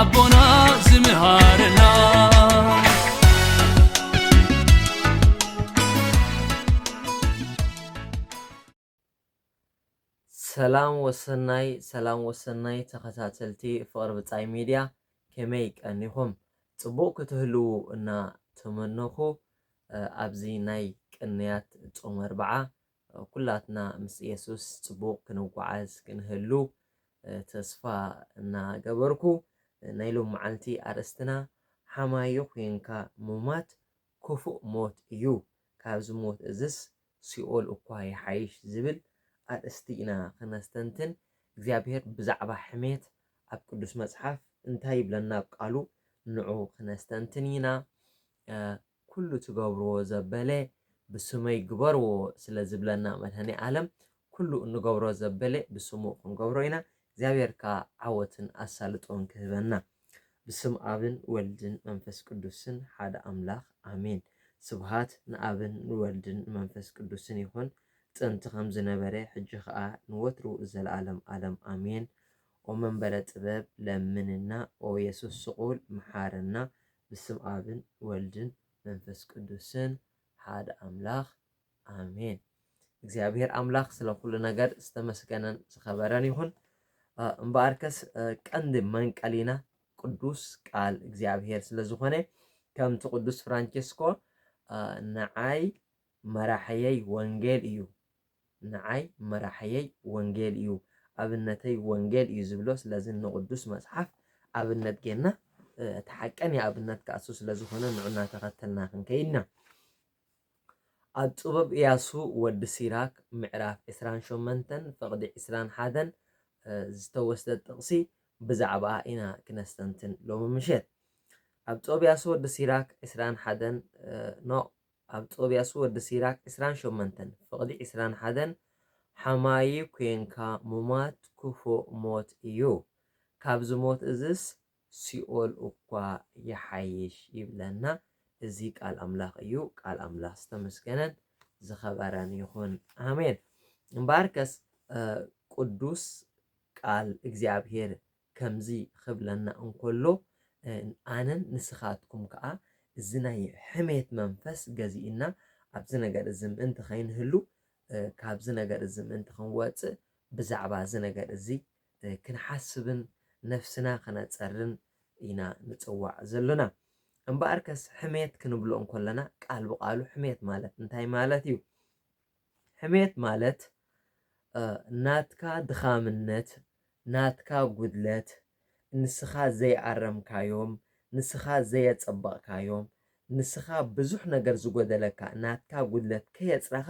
ኣቦና ዝምሃረና ሰላም ወሰናይ ሰላም ወሰናይ ተኸታተልቲ ፍቕሪ ብጻይ ሚድያ ከመይ ቀኒኹም ጽቡቕ ክትህልዉ እና ተመነኹ ኣብዚ ናይ ቅንያት ጾመ ኣርብዓ ኩላትና ምስ የሱስ ጽቡቕ ክንጓዓዝ ክንህሉ ተስፋ እናገበርኩ፣ ናይ ሎምዓልቲ ኣርእስትና ሓማዮ ዄንካ ምሟት ክፉእ ሞት እዩ፣ ካብዚ ሞት እዝስ ሲኦል እኳ ይሓይሽ ዝብል ኣርእስቲ ኢና ክነስተንትን፣ እግዚኣብሄር ብዛዕባ ሕሜት ኣብ ቅዱስ መጽሓፍ እንታይ ይብለና ብ ቃሉ ንዑ ክነስተንትን ኢና። ኩሉ ትገብርዎ ዘበለ ብስመይ ግበርዎ ስለ ዝብለና መድሃኔ ኣለም ኩሉ እንገብሮ ዘበለ ብስሙ ክንገብሮ ኢና እግዚኣብሔር ከኣ ዓወትን ኣሳልጦን ክህበና ብስም ኣብን ወልድን መንፈስ ቅዱስን ሓደ ኣምላክ ኣሜን ስብሃት ንኣብን ንወልድን ንመንፈስ ቅዱስን ይኩን ጥንቲ ከም ዝነበረ ሕጂ ከኣ ንወትሩ ዘልኣለም ኣለም ኣሜን ኦመንበረ ጥበብ ለምንና ኦየሱስ ስቁል ምሓረና ብስም ኣብን ወልድን መንፈስ ቅዱስን ሓደ ኣምላኽ ኣሜን። እግዚኣብሔር ኣምላኽ ስለ ኩሉ ነገር ዝተመስገነን ዝኸበረን ይኹን። እምበኣርከስ ቀንዲ መንቀሊና ቅዱስ ቃል እግዚኣብሔር ስለ ዝኾነ ከምቲ ቅዱስ ፍራንቸስኮ ንዓይ መራሕየይ ወንጌል እዩ ንዓይ መራሕየይ ወንጌል እዩ ኣብነተይ ወንጌል እዩ ዝብሎ ስለዚ ንቅዱስ መጽሓፍ ኣብነት ጌርና እቲ ሓቀኛ ኣብነት ከኣ እሱ ስለ ዝኾነ ንዑ እናተኸተልና ክንከይድ ኢና ኣብ ጥበብ እያሱ ወዲ ሲራክ ምዕራፍ ዕስራን ሸመንተን ፍቕዲ ዕስራን ሓደን ዝተወስደ ጥቕሲ ብዛዕባ ኢና ክነስተንትን ሎሚ ምሸት ኣብ ጥበብ እያሱ ወዲ ሲራክ ዕስራን ሓደን ኖ ኣብ ጦብያሱ ወዲ ሲራክ ዕስራን ሾመንተን ፍቅዲ ዕስራን ሓደን ሓማዪ ኩንካ ሙማት ኩፉእ ሞት እዩ ካብዚ ሞት እዝስ ሲኦል እኳ ይሓይሽ ይብለና እዚ ቃል ኣምላክ እዩ ቃል ኣምላክ ዝተመስገነን ዝከበረን ይኩን ኣሜን እምበኣርከስ ቅዱስ ቃል እግዚኣብሄር ከምዚ ኽብለና እንከሎ ኣነን ንስኻትኩም ከኣ እዚ ናይ ሕሜት መንፈስ ገዚኡና ኣብዚ ነገር እዚ ምእንቲ ኸይንህሉ ካብዚ ነገር እዚ ምእንቲ ኽንወጽእ ብዛዕባ እዚ ነገር እዚ ክንሓስብን ነፍስና ኸነጸርን ኢና ንጽዋዕ ዘሎና። እምበኣርከስ ሕሜት ክንብሎ እንከሎና ቃል ብቓሉ ሕሜት ማለት እንታይ ማለት እዩ? ሕሜት ማለት ናትካ ድኻምነት ናትካ ጉድለት ንስኻ ዘይኣረምካዮም ንስኻ ዘየጸበቕካዮም ንስኻ ብዙሕ ነገር ዝጎደለካ ናትካ ጉድለት ከየጽረኻ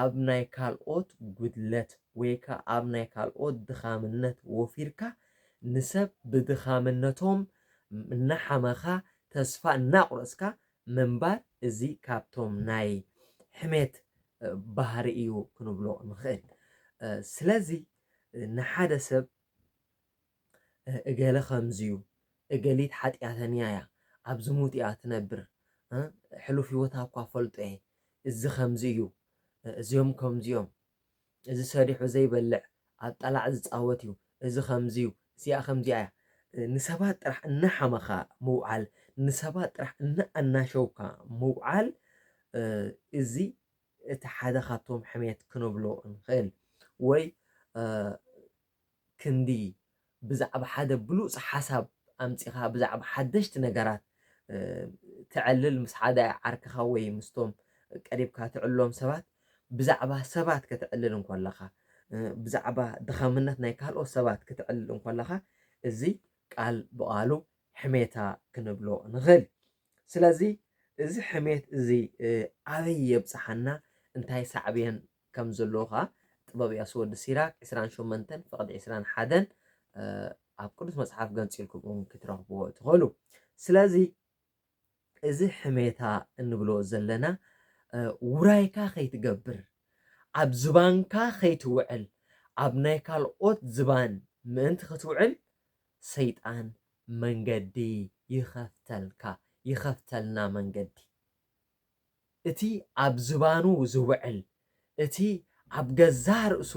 ኣብ ናይ ካልኦት ጉድለት ወይ ከኣ ኣብ ናይ ካልኦት ድኻምነት ወፊርካ ንሰብ ብድኻምነቶም እናሓመኻ ተስፋ እናቑረጽካ ምንባር እዚ ካብቶም ናይ ሕሜት ባህሪ እዩ ክንብሎ ንኽእል። ስለዚ ንሓደ ሰብ እገለ ከምዚ እዩ፣ እገሊት ሓጢኣተኛ እያ፣ ኣብ ዝሙት እያ ትነብር፣ ሕሉፍ ህይወታ እኳ እፈልጦ እየ፣ እዚ ከምዚ እዩ፣ እዚኦም ከምዚ እዮም፣ እዚ ሰሪሑ ዘይበልዕ ኣብ ጠላዕ ዝጻወት እዩ እዚ ከምዚ እዩ እዚኣ ከምዚኣ እያ። ንሰባት ጥራሕ እናሓመኻ ምውዓል ንሰባት ጥራሕ እናኣናሸውካ ምውዓል እዚ እቲ ሓደ ካብቶም ሕሜት ክንብሎ ንኽእል ወይ ክንዲ ብዛዕባ ሓደ ብሉጽ ሓሳብ ኣምጺኻ ብዛዕባ ሓደሽቲ ነገራት ተዕልል ምስ ሓደ ዓርክኻ ወይ ምስቶም ቀሪብካ ትዕልሎም ሰባት ብዛዕባ ሰባት ከተዕልል እንኮለኻ ብዛዕባ ድኻምነት ናይ ካልኦት ሰባት ክትዕልል እንኮለኻ እዚ ቃል ብቓሉ ሕሜታ ክንብሎ ንኽእል ስለዚ እዚ ሕሜት እዚ ኣበይ የብጽሓና እንታይ ሳዕቤን ከም ዘሎዎ ከኣ ጥበብ ያሱ ወዲ ሲራክ ዕስራን ሾመንተን ፍቕዲ ዕስራን ሓደን ኣብ ቅዱስ መጽሓፍ ገንጺልኩም እውን ክትረኽብዎ ትኸእሉ። ስለዚ እዚ ሕሜታ እንብሎ ዘለና ውራይካ ከይትገብር፣ ኣብ ዝባንካ ከይትውዕል፣ ኣብ ናይ ካልኦት ዝባን ምእንቲ ክትውዕል ሰይጣን መንገዲ ይኸፍተልካ፣ ይኸፍተልና መንገዲ። እቲ ኣብ ዝባኑ ዝውዕል፣ እቲ ኣብ ገዛእ ርእሱ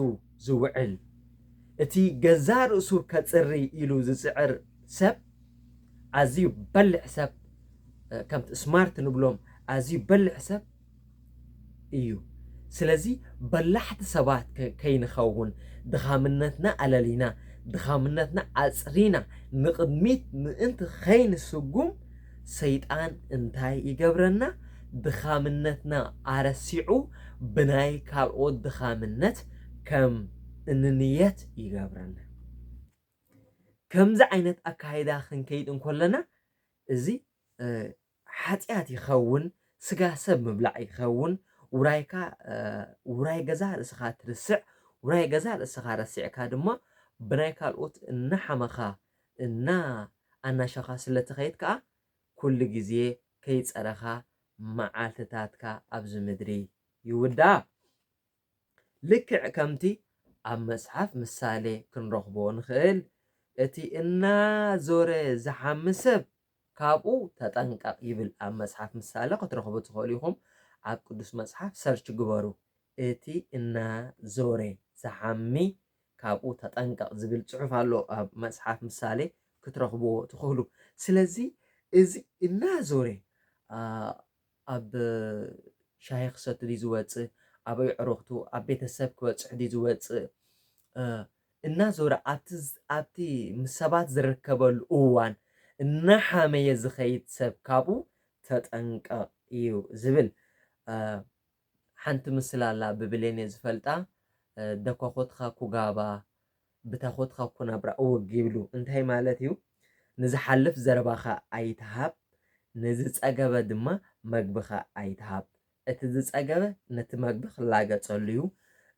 ዝውዕል፣ እቲ ገዛእ ርእሱ ከጽሪ ኢሉ ዝጽዕር ሰብ፣ ኣዝዩ በሊሕ ሰብ፣ ከምቲ ስማርት ንብሎም ኣዝዩ በሊሕ ሰብ እዩ። ስለዚ በላሕቲ ሰባት ከይንኸውን፣ ድኻምነትና ኣለሊና፣ ድኻምነትና ኣጽሪና ንቕድሚት ምእንቲ ከይንስጉም፣ ሰይጣን እንታይ ይገብረና? ድኻምነትና ኣረሲዑ ብናይ ካልኦት ድኻምነት ከም እንንየት ይገብረና። ከምዚ ዓይነት ኣካይዳ ክንከይድ እንኮለና እዚ ሓጢኣት ይኸውን፣ ስጋ ሰብ ምብላዕ ይኸውን፣ ውራይካ ውራይ ገዛ ርእስኻ ትርስዕ፣ ውራይ ገዛ ርእስኻ ረሲዕካ ድማ ብናይ ካልኦት እናሓመኻ እና ኣናሸኻ ስለ ትኸይድ ከኣ ኩሉ ግዜ ከይጸረኻ መዓልትታትካ ኣብዚ ምድሪ ይውዳኣ። ልክዕ ከምቲ ኣብ መጽሓፍ ምሳሌ ክንረኽቦ ንኽእል እቲ እና ዞረ ዝሓሚ ሰብ ካብኡ ተጠንቀቕ ይብል ኣብ መጽሓፍ ምሳሌ ክትረኽቡ ትኽእሉ ኢኹም ኣብ ቅዱስ መጽሓፍ ሰርች ግበሩ እቲ እና ዞረ ዝሓሚ ካብኡ ተጠንቀቕ ዝብል ጽሑፍ ኣሎ ኣብ መጽሓፍ ምሳሌ ክትረኽብዎ ትኽእሉ ስለዚ እዚ እና ዞረ ኣብ ሻሂ ክሰቲ ድዩ ዝወጽእ ኣብ ኣዕሩኽቱ ኣብ ቤተሰብ ክበጽሕ ድዩ ዝወጽእ እናዞረ ኣብቲ ኣብቲ ምስ ሰባት ዝርከበሉ እዋን እናሓመየ ዝኸይድ ሰብ ካብኡ ተጠንቀቕ እዩ ዝብል። ሓንቲ ምስላ ኣላ ብብሌን እየ ዝፈልጣ ደኳኹትኻ ኩጋባ ብታኹትኻ ኩናብራ እወግ ይብሉ እንታይ ማለት እዩ ንዝሓልፍ ዘረባኻ ኣይትሃብ ንዝጸገበ ድማ መግብኻ ኣይትሃብ እቲ ዝጸገበ ነቲ መግቢ ክላገጸሉ'ዩ፣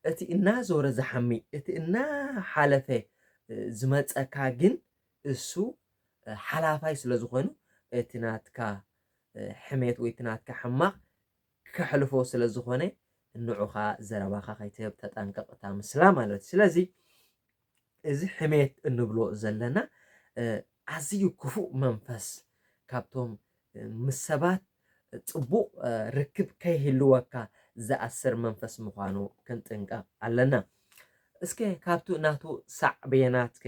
እቲ እናዞረ ዝሓሚ፣ እቲ እናሓለፈ ዝመጸካ ግን እሱ ሓላፋይ ስለ ዝኾኑ እቲ ናትካ ሕሜት ወይ እቲ ናትካ ሕማቕ ከሕልፎ ስለ ዝኾነ ንዑኻ ዘረባኻ ከይትህብ ተጠንቀቕ እታ ምስላ ማለት እዩ ስለዚ እዚ ሕሜት እንብሎ ዘለና ኣዝዩ ክፉእ መንፈስ ካብቶም ምስ ሰባት ጽቡቕ ርክብ ከይህልወካ ዝኣስር መንፈስ ምዃኑ ክንጥንቀቕ ኣለና። እስከ ካብቲ ናቱ ሳዕቤናት ከ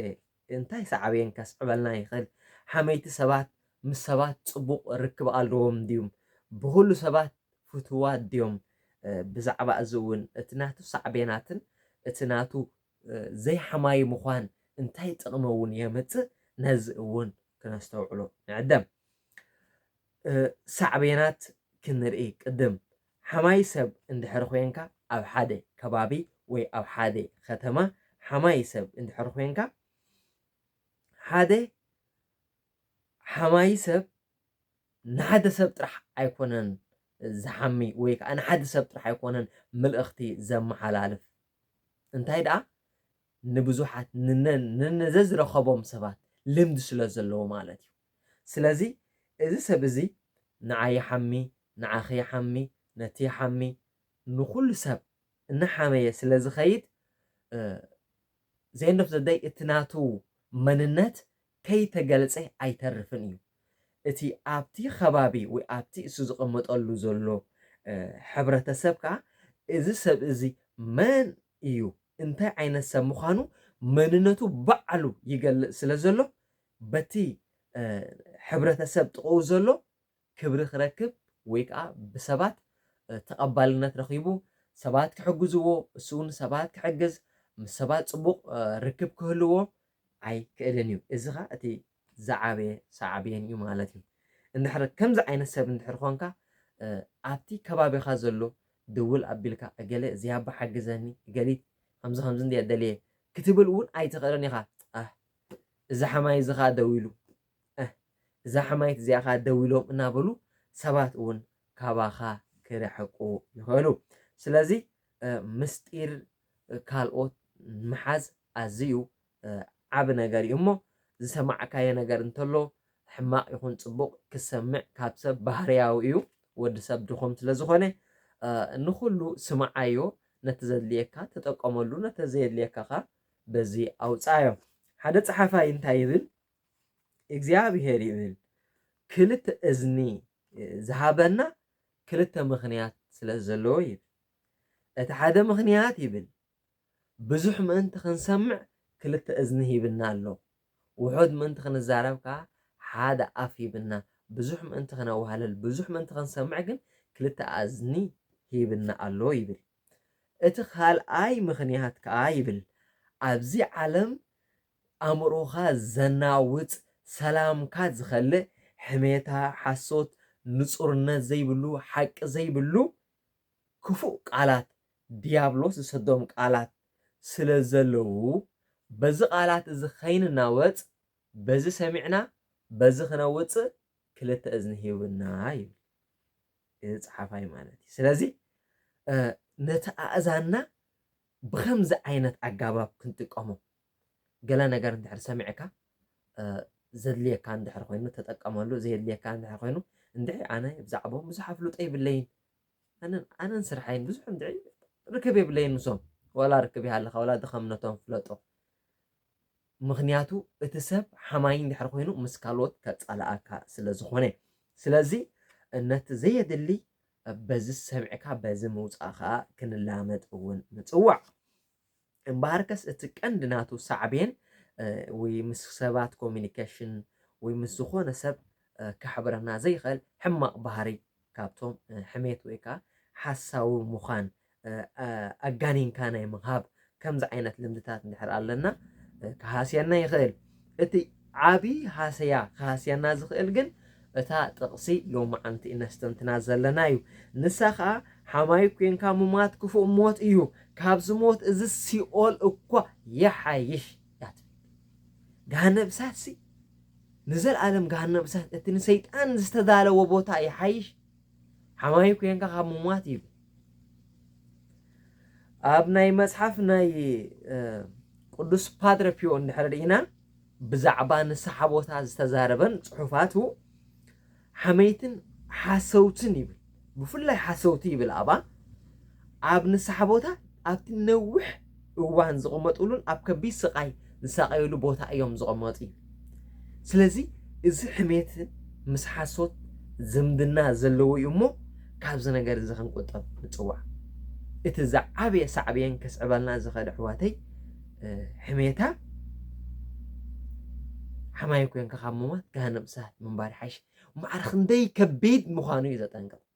እንታይ ሳዕቤን ከስዕበልና ይኽእል? ሓመይቲ ሰባት ምስ ሰባት ጽቡቕ ርክብ ኣለዎም ድዩም? ብኹሉ ሰባት ፍትዋት ድዮም? ብዛዕባ እዚ እውን እቲ ናቱ ሳዕቤናትን እቲ ናቱ ዘይሓማዪ ምዃን እንታይ ጥቕሚ እውን የምጽእ፣ ነዚ እውን ክነስተውዕሎ ንዕደም። ሳዕቤናት ክንርኢ ቅድም፣ ሓማዪ ሰብ እንድሕሪ ኮይንካ፣ ኣብ ሓደ ከባቢ ወይ ኣብ ሓደ ከተማ ሓማዪ ሰብ እንድሕሪ ኮይንካ፣ ሓደ ሓማዪ ሰብ ንሓደ ሰብ ጥራሕ ኣይኮነን ዝሓሚ ወይ ከዓ ንሓደ ሰብ ጥራሕ ኣይኮነን ምልእኽቲ ዘመሓላልፍ እንታይ ደኣ ንብዙሓት ንዘዝረኸቦም ሰባት ልምዲ ስለዘለዎ ማለት እዩ። ስለዚ እዚ ሰብ እዚ ንዓይ ይሓሚ፣ ንዓኺ ይሓሚ፣ ነቲ ይሓሚ ንኹሉ ሰብ እናሓመየ ስለዝኸይድ ዘየንዶፍ ዘደይ እቲ ናቱ መንነት ከይተገልጸ ኣይተርፍን እዩ። እቲ ኣብቲ ኸባቢ ወይ ኣብቲ እሱ ዝቐመጠሉ ዘሎ ሕብረተሰብ ከኣ እዚ ሰብ እዚ መን እዩ እንታይ ዓይነት ሰብ ምዃኑ መንነቱ ባዕሉ ይገልጽ ስለ ዘሎ በቲ ሕብረተሰብ ጥቕኡ ዘሎ ክብሪ ክረክብ ወይ ከኣ ብሰባት ተቐባልነት ረኺቡ ሰባት ክሕግዝዎ እሱውን ሰባት ክሕግዝ ምስ ሰባት ጽቡቕ ርክብ ክህልዎ ኣይክእልን እዩ። እዚ ከኣ እቲ ዝዓበየ ሳዕቤን እዩ ማለት እዩ። እንድሕር ከምዚ ዓይነት ሰብ እንድሕር ኾንካ ኣብቲ ከባቢኻ ዘሎ ድውል ኣቢልካ እገለ እዚ ኣቦ ሓግዘኒ እገሊት ከምዚ ከምዚ እንድየ ደልየ ክትብል እውን ኣይትኽእልን ኢኻ። ኣህ እዚ ሓማይ እዚ ከኣ ደዊሉ ኣህ እዛ ሓማይት እዚኣ ከኣ ደው ኢሎም እናበሉ ሰባት እውን ካባኻ ክርሕቁ ይኽእሉ። ስለዚ ምስጢር ካልኦት ምሓዝ ኣዝዩ ዓቢ ነገር እዩ እሞ ዝሰማዕካዮ ነገር እንተሎ ሕማቕ ይኹን ጽቡቕ ክሰምዕ ካብ ሰብ ባህርያዊ እዩ ወዲ ሰብ ድኹም ስለ ዝኾነ ንኹሉ ስምዓዮ ነቲ ዘድልየካ ተጠቀመሉ ነቲ ዘየድልየካ ከኣ በዚ ኣውጽኣዮ ሓደ ጸሓፋይ እንታይ ይብል እግዚኣብሄር ይብል ክልተ እዝኒ ዝሃበና ክልተ ምኽንያት ስለ ዘለዎ ይብል እቲ ሓደ ምኽንያት ይብል ብዙሕ ምእንቲ ክንሰምዕ ክልተ እዝኒ ሂብና ኣሎ ውሑድ ምእንቲ ክንዛረብ ከዓ ሓደ ኣፍ ሂብና ብዙሕ ምእንቲ ክነዋህለል ብዙሕ ምእንቲ ክንሰምዕ ግን ክልተ ኣዝኒ ሂብና ኣሎ ይብል እቲ ካልኣይ ምኽንያት ከዓ ይብል ኣብዚ ዓለም ኣእምሮኻ ዘናውጽ፣ ሰላምካ ዝኸልእ፣ ሕሜታ፣ ሓሶት፣ ንጹርነት ዘይብሉ፣ ሓቂ ዘይብሉ ክፉእ ቃላት፣ ድያብሎስ ዝሰዶም ቃላት ስለ ዘለዉ፣ በዚ ቃላት እዚ ከይንናወጽ፣ በዚ ሰሚዕና በዚ ክነውጽእ ክልተ እዝኒ ሂቡና ይብል እዚ ጸሓፋይ ማለት እዩ። ስለዚ ነቲ ኣእዛንና ብኸምዚ ዓይነት ኣጋባብ ክንጥቀሞ ገለ ነገር እንድሕር ሰሚዕካ ዘድልየካ እንድሕር ኮይኑ ተጠቀመሉ ዘየድልየካ እንድሕር ኮይኑ እንድዒ ኣነ ብዛዕቦም ብዙሕ ኣፍልጦ የብለይን ኣነን ኣነን ስርሐይን ብዙሕ እንድዒ ርክብ የብለይን ምሶም ወላ ርክብ ይሃልኻ ወላ ድኸምነቶም ፍለጦ ምክንያቱ እቲ ሰብ ሓማይ እንድሕር ኮይኑ ምስ ካልኦት ከጻልኣካ ስለ ዝኾነ ስለዚ ነቲ ዘየድሊ በዚ ሰሚዕካ በዚ ምውፃእ ከዓ ክንላመድ እውን ንፅዋዕ እምበኣርከስ እቲ ቀንዲ ናቱ ሳዕቤን ወይ ምስ ሰባት ኮሚኒኬሽን ወይ ምስ ዝኾነ ሰብ ከሕብረና ዘይኸእል ሕማቕ ባህሪ ካብቶም ሕሜት ወይ ከኣ ሓሳዊ ምዃን ኣጋኒንካ ናይ ምሃብ ከምዚ ዓይነት ልምድታት እንድሕር ኣለና ክሃስየና ይኽእል። እቲ ዓቢ ሃሰያ ክሃስየና ዝኽእል ግን እታ ጥቕሲ ሎማዓንቲ እነስተንትና ዘለና እዩ። ንሳ ከኣ ሓማዩ ኴንካ ምሟት ክፉእ ሞት እዩ፣ ካብዚ ሞት እዚ ሲኦል እኳ ይሓይሽ እያ ትብል። ገሃነብ እሳትሲ ንዘልኣለም ገሃነብ እሳት እቲ ንሰይጣን ዝተዳለወ ቦታ ይሓይሽ? ሓማዩ ኴንካ ካብ ምሟት ይብል ኣብ ናይ መጽሓፍ ናይ ቅዱስ ፓትረ ፒዮ እንድሕር ርኢና ብዛዕባ ንስሓ ቦታ ዝተዛረበን ጽሑፋቱ ሓመይትን ሓሰውትን ይብል ብፍላይ ሓሰውቲ ይብል ኣባ ኣብ ንስሓ ቦታ ኣብቲ ነዊሕ እዋን ዝቕመጥሉን ኣብ ከቢድ ስቓይ ዝሳቐዩሉ ቦታ እዮም ዝቕመጡ። ስለዚ እዚ ሕሜት ምስ ሓሶት ዝምድና ዘለዎ እዩ እሞ ካብዚ ነገር እዚ ክንቁጠብ ንጽዋዕ። እቲ ዝዓበየ ሳዕቤን ከስዕበልና ዝኽእል ኣሕዋተይ ሕሜታ ሓማይ ኮንካ ካብ ምሟት ገሃነም እሳት ምንባር ይሓይሽ። ማዕረ ክንደይ ከቢድ ምዃኑ እዩ ዘጠንቅቕ።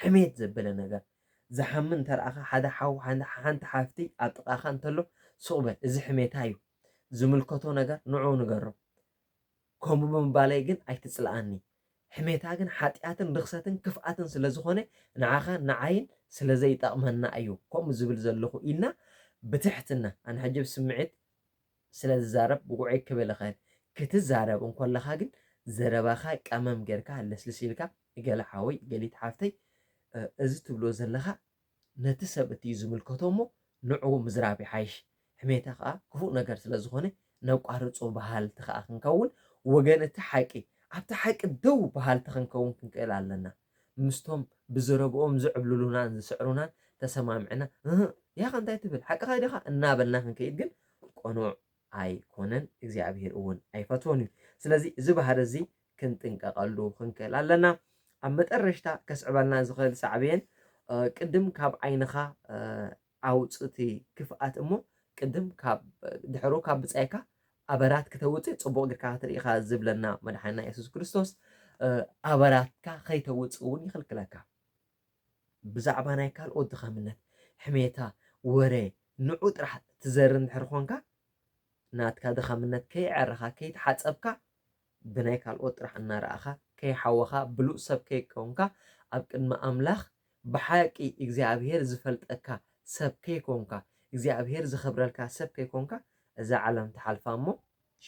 ሕሜት ዘበለ ነገር ዝሓሚ እንተረኣኻ ሓደ ሓው ሓንቲ ሓፍቲ ኣብ ጥቃኻ እንተሎ ሱቅ በል እዚ ሕሜታ እዩ ዝምልከቶ ነገር ንዑኡ ንገሮ ከምኡ ብምባለይ ግን ኣይትጽልኣኒ ሕሜታ ግን ሓጥያትን ርኽሰትን ክፍኣትን ስለ ዝኾነ ንዓኻን ንዓይን ስለ ዘይጠቅመና እዩ ከምኡ ዝብል ዘለኹ ኢልና ብትሕትና ኣነ ሕጂ ብስምዒት ስለ ዝዛረብ ውዕይ ክብል እኽእል ክትዛረብ እንኮለኻ ግን ዘረባኻ ቀመም ጌርካ ለስልስ ኢልካ ገለ ሓወይ ገሊት ሓፍተይ እዚ ትብሎ ዘለኻ ነቲ ሰብ እቲ እዩ ዝምልከቶ እሞ ንዑኡ ምዝራብ ይሓይሽ ሕሜታ ከኣ ክፉእ ነገር ስለ ዝኾነ ነቋርጾ በሃልቲ ከኣ ክንከውን ወገን እቲ ሓቂ ኣብቲ ሓቂ ደው በሃልቲ ክንከውን ክንክእል ኣለና ምስቶም ብዘረብኦም ዝዕብልሉናን ዝስዕሩናን ተሰማሚዕና እህ ያኸ እንታይ ትብል ሓቅኻ ዲኻ እናበልና ክንከይድ ግን ቅኑዕ ኣይኮነን እግዚኣብሄር እውን ኣይፈትዎን እዩ ስለዚ እዚ ባህሪ እዚ ክንጥንቀቐሉ ክንክእል ኣለና። ኣብ መጠረሽታ ከስዕበልና ዝኽእል ሳዕቤን ቅድም ካብ ዓይንኻ ኣውጽእቲ ክፍኣት እሞ ቅድም ካብ ድሕሩ ካብ ብጻይካ ኣበራት ክተውጽእ ጽቡቕ ግርካ ክትርኢኻ ዝብለና መድሓንና የሱስ ክርስቶስ ኣበራትካ ከይተውጽእ እውን ይኽልክለካ። ብዛዕባ ናይ ካልኦት ድኻምነት ሕሜታ ወረ ንዑ ጥራሕ ትዘር እንድሕር ኾንካ ናትካ ድኻምነት ከይዐረኻ ከይተሓጸብካ ብናይ ካልኦት ጥራሕ እናረኣኻ ከይሓወኻ ብሉፅ ሰብ ከይኮንካ ኣብ ቅድሚ ኣምላኽ ብሓቂ እግዚኣብሄር ዝፈልጠካ ሰብ ከይኮንካ እግዚኣብሄር ዘኽብረልካ ሰብ ከይኮንካ እዛ ዓለም ትሓልፋ እሞ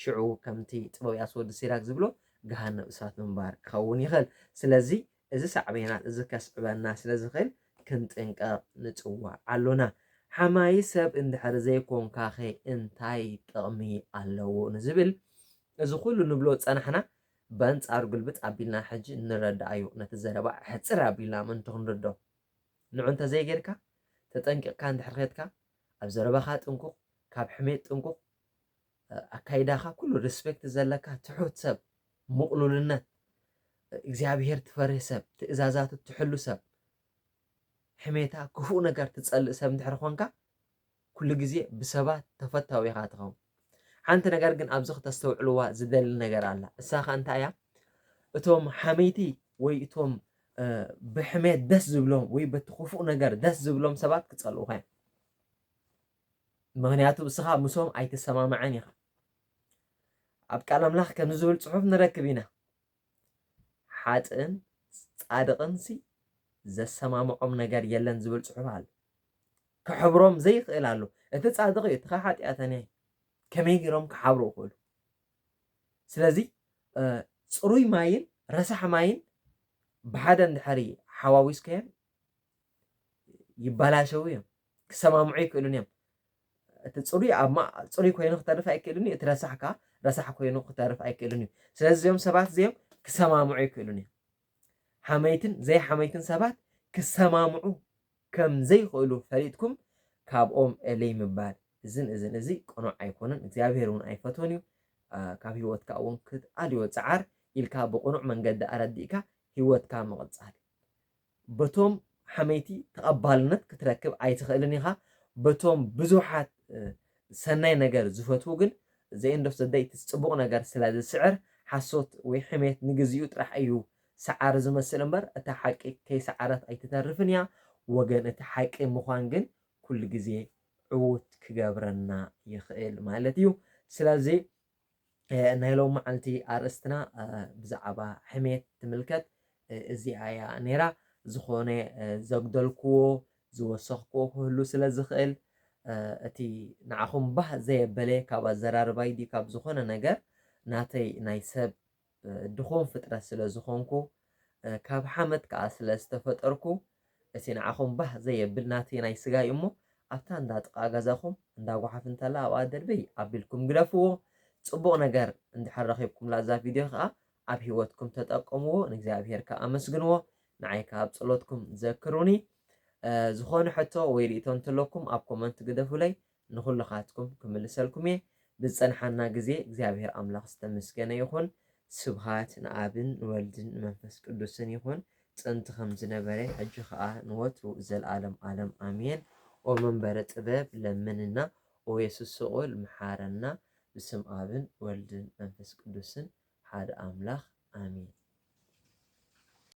ሽዑ ከምቲ ጥበብ ያስ ወዲ ሲራክ ዝብሎ ገሃነብ እሳት ምንባር ክኸውን ይኽእል ስለዚ እዚ ሳዕቤናት እዚ ከስዕበና ስለዝኽእል ክንጥንቀቕ ንጽዋዕ ኣሎና። ሓማዪ ሰብ እንድሕር ዘይኮንካኸ እንታይ ጥቕሚ ኣለዎ ንዝብል እዚ ኩሉ ንብሎ ዝጸናሕና በንጻሩ ግልብጥ ኣቢልና ሕጂ ንረድኣዮ ነቲ ዘረባ ሕጽር ኣቢልና ምእንቲ ክንርድኦ። ንዑ እንተዘይጌርካ ተጠንቂቕካ እንድሕር ኼድካ ኣብ ዘረባኻ ጥንቁቕ፣ ካብ ሕሜት ጥንቁቕ፣ ኣካይዳኻ ኩሉ ርስፔክት ዘለካ ትሑት ሰብ ሙቕሉልነት እግዚኣብሄር ትፈርህ ሰብ ትእዛዛቱ ትሕሉ ሰብ ሕሜታ ክፉእ ነገር ትጸልእ ሰብ እንድሕር ኾንካ ኩሉ ግዜ ብሰባት ተፈታዊ ኢኻ ትኸውን ሓንቲ ነገር ግን ኣብዚ ክተስተውዕልዋ ዝደሊ ነገር ኣላ እሳ ኸ እንታይ እያ እቶም ሓመይቲ ወይ እቶም ብሕሜት ደስ ዝብሎም ወይ በቲ ክፉእ ነገር ደስ ዝብሎም ሰባት ክጸልኡኻ እዮም ምክንያቱ እስኻ ምሶም ኣይትሰማማዕን ኢኻ ኣብ ቃል ኣምላኽ ከምዚ ዝብል ጽሑፍ ንረክብ ኢና ሓጥእን ጻድቕን ሲ ዘሰማምዖም ነገር የለን ዝብል ጽሑፍ ኣሎ ክሕብሮም ዘይኽእል ኣሎ እቲ ጻድቕ እዩ እቲ ሓጢኣተኛ ከመይ ገይሮም ክሓብሩ ይኽእሉ ስለዚ ፅሩይ ማይን ረሳሕ ማይን ብሓደ እንድሕሪ ሓዋዊስካዮን ይባላሸው እዮም ክሰማምዑ ኣይክእሉን እዮም እቲ ፅሩይ ኣብ ማ ፅሩይ ኮይኑ ክተርፍ ኣይክእልን እዩ እቲ ረሳሕ ከዓ ረሳሕ ኮይኑ ክተርፍ ኣይክእልን እዩ ስለዚ እዚኦም ሰባት እዚኦም ክሰማምዑ ኣይክእሉን እዮም ሓመይትን ዘይሓመይትን ሰባት ክሰማምዑ ከም ዘይኽእሉ ፈሊጥኩም ካብኦም እልይ ምባል እዝን እዝን እዚ ቅኑዕ ኣይኮነን እግዚኣብሄር እውን ኣይፈትዎን እዩ ካብ ህይወትካ እውን ክትኣልዮ ፀዓር ኢልካ ብቕኑዕ መንገዲ ኣረዲእካ ህይወትካ ምቕፃል በቶም ሓመይቲ ተቐባልነት ክትረክብ ኣይትኽእልን ኢኻ፣ በቶም ብዙሓት ሰናይ ነገር ዝፈትዉ ግን The End of the Day እቲ ጽቡቕ ነገር ስለ ዝስዕር፣ ሓሶት ወይ ሕሜት ንግዜኡ ጥራሕ እዩ ሰዓሪ ዝመስል እምበር እታ ሓቂ ከይሰዓረት ኣይትተርፍን እያ፣ ወገን እቲ ሓቂ ምዃን ግን ኩሉ ግዜ ዕዉት ክገብረና ይኽእል ማለት እዩ። ስለዚ ናይ ሎሚ መዓልቲ ኣርእስትና ብዛዕባ ሕሜት ትምልከት እዚኣ እያ ነይራ። ዝኾነ ዘጉደልክዎ ዝወሰኽክዎ ክህሉ ስለ ዝኽእል እቲ ንዓኹም ባህ ዘየበለ ካብ ኣዘራርባይ ድዩ ካብ ዝኾነ ነገር ናተይ ናይ ሰብ ድኹም ፍጥረት ስለ ዝኾንኩ፣ ካብ ሓመድ ከኣ ስለ ዝተፈጠርኩ፣ እቲ ንዓኹም ባህ ዘየብል ናተይ ናይ ስጋ እዩ እሞ፣ ኣብታ እንዳ ጥቓ ገዛኹም እንዳ ጓሓፍ እንተላ ኣብኣ ደርበይ ኣቢልኩም ግደፍዎ። ጽቡቕ ነገር እንድሕር ረኺብኩምላ እዛ ቪድዮ ከኣ ኣብ ሂወትኩም ተጠቀምዎ፣ ንእግዚኣብሄር ከኣ ኣመስግንዎ፣ ንዓይ ከኣ ኣብ ጸሎትኩም ዘክሩኒ። ዝኾነ ሕቶ ወይ ርእይቶ እንተለኩም ኣብ ኮመንት ግደፉለይ፣ ንኹልኻትኩም ክምልሰልኩም እየ። ብዝጸንሓና ግዜ እግዚኣብሄር ኣምላኽ ዝተመስገነ ይኹን። ስብሃት ንኣብን ንወልድን ንመንፈስ ቅዱስን ይኹን ጥንቲ ከም ዝነበረ ሕጂ ከኣ ንወትሩ ዘልኣለም ኣለም ኣሜን። ኦ መንበረ ጥበብ ለምንና ኦ የሱስ ስቁል ምሓረና ብስም ኣብን ወልድን መንፈስ ቅዱስን ሓደ ኣምላኽ ኣሜን።